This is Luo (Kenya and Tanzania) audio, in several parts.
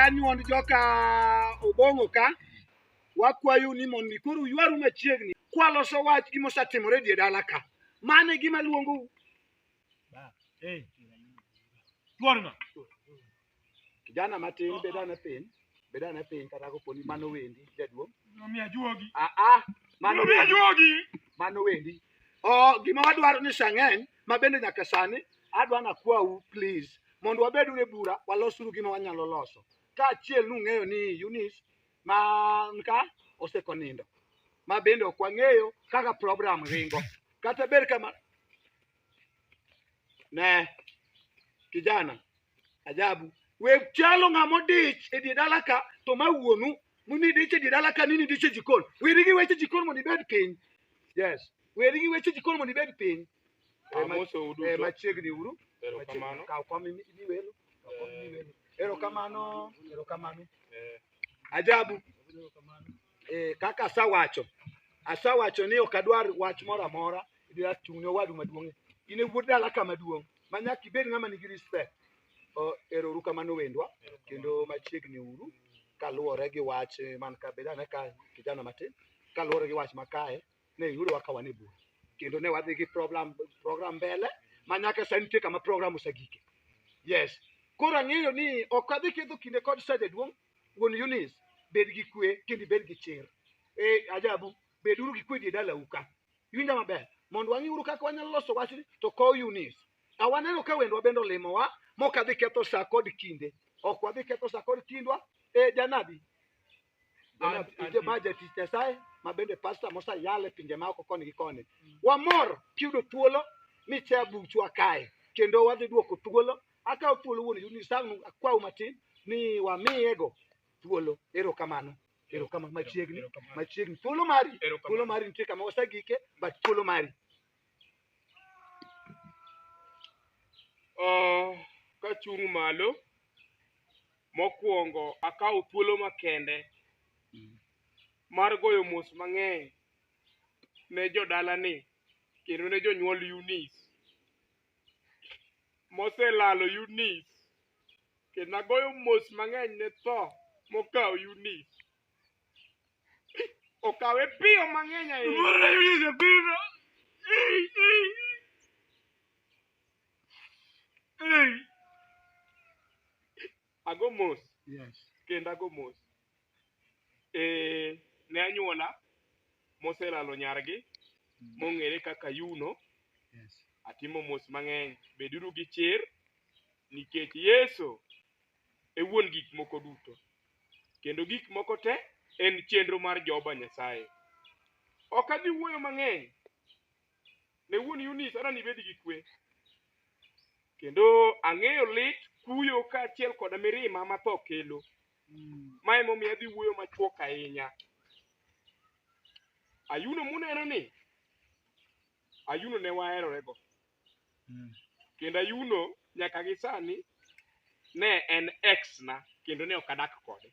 anyuond joka Obong'o ka wakwayo ni mondo koro ywaru machiegni kwaloso wach gimosetimore die dala ka mane gima luongo Eh. Tuorno. Kijana matin bed ane piny, bed ane piny kata kapo ni mano wendi jaduong'. Nomiya juogi. Ah ah, mano Nomiya wendi, juogi. mano wendi. Oh, gima wadwaro ni sang'eny ma bende nyaka sani adwa nakwau please mondo wabed e bura walosuru gima wanyalo loso. Kaachiel nung'eyo ni Eunice ma nka osekonindo. ma bende ok wang'eyo kaka program ringo kata ber kama ne kijana ajabu we chalo ng'ama odich e die dala ka to ma wuonu muni dich e die dala ka nini dich e jikon weri gi weche jikon mondo ibed piny yes weri gi weche jikon mondo ibed piny Eh, ma- Amoso eh, uduto. machiegni uru Erokamano. kaw kom imi- imi welo kaw kom imi welo erokamano erokamano Eh, ajabu eh, kaka asawacho asawacho ni ok adwar wach moro amora idwa chung'ne owadu maduong' in e wuod dala ka maduong' ma nyaka ibed ng'ama nigi respect O, ero uru kamano wendwa kendo machiegni uru kaluwore gi wach eh, man ka beda ne ka kijana matin kaluwore gi wach makae ne yudowa ka wan e bura kendo ne wadhi gi program program mbele ma nyaka sani nitie kama program osegike yes koro ang'eyo ni ok adhi ketho kinde kod sede duong' Wuon Eunice, bed gi kwe kendo ibed gi chir. Eh, ajabu, beduru gi kwe die dalau ka. Iwinja maber? Mondo wang'iuru kaka wanyalo loso wachni to kow Eunice. A waneno ka wendwa bende olimowa mok adhi ketho sa kod kinde. Ok wadhi ketho sa kod kindwa. Eh, janabi. Janabi, An- ije an- ma jatich Nyasaye ma bende pasta mosayale pinje ma oko koni gi koni. Wamor kiyudo thuolo ni cha buchwa kae kendo wadhi duoko thuolo akawo thuolo wuon yuni sang'u akwawu matin ni wamiyego thuolo erokamano erokamano machiegni machiegni thuolo mari thuolo mari nitie kama wasegike but thuolo mari Ah, kachung' malo mokwongo akawo thuolo makende mar goyo mos mang'eny ne jodalani kendo ne jonyuol Eunice moselalo Yunis kendo agoyo mos mang'eny ne tho mokawo Yunis. Okawe piyo mang'eny ahinya. Murna Yunis e pinyno. Ei, ei. Ei. ago mos Yes. kendo ago mos e, ne anyuola moselalo nyargi mong'ere kaka yuno Yes. atimo mos mang'eny beduru gi chir nikech yesu e wuon gik moko duto kendo gik moko te en chenro mar jehova nyasaye ok adhi wuoyo mang'eny ne wuon Yunis ana nibed gi kwe. Kendo ang'eyo lit kuyo kaachiel koda mirima ma tho kelo. Ma emomiyo adhi wuoyo machuok ahinya. Ayuno muneno ni, Ayuno ne waherorego. Kendo Ayuno nyaka gi sani ne en ex na kendo ne ok adak kode.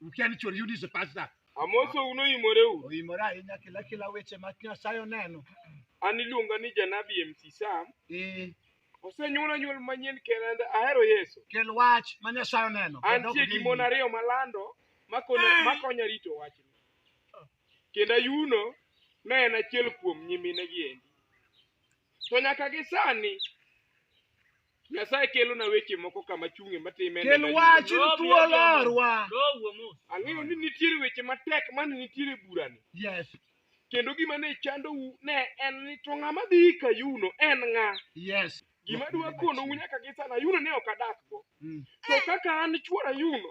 Ukia ni chori yudi sepasta. Amoso uno imoreu. Oimora ahinya kila kila weche ma Nyasaye oneno. An iluonga ni janabi MC Sam. Eh, Osenyuola nyuol manyien kendo ahero Yesu. kel wach ma Nyasaye oneno. Kendo Antie ok gi mon gini. ariyo malando makonya makonya rito wachni. Kendo Ayuno ne en achiel kuom nyimine gi endi. To nyaka gi sani Nyasaye kelona weche moko kama chung'e matime. Kel wachni thuolo orwa. Ang'eyo ni nitiere weche matek mane nitiere burani. Yes. Kendo gima ne chandou ne en ni to ng'ama dhi ka yuno en ng'a? Yes. Gima dwa konou nyaka gi sana yuno ne ok adakgo. Mm. To kaka an chuora yuno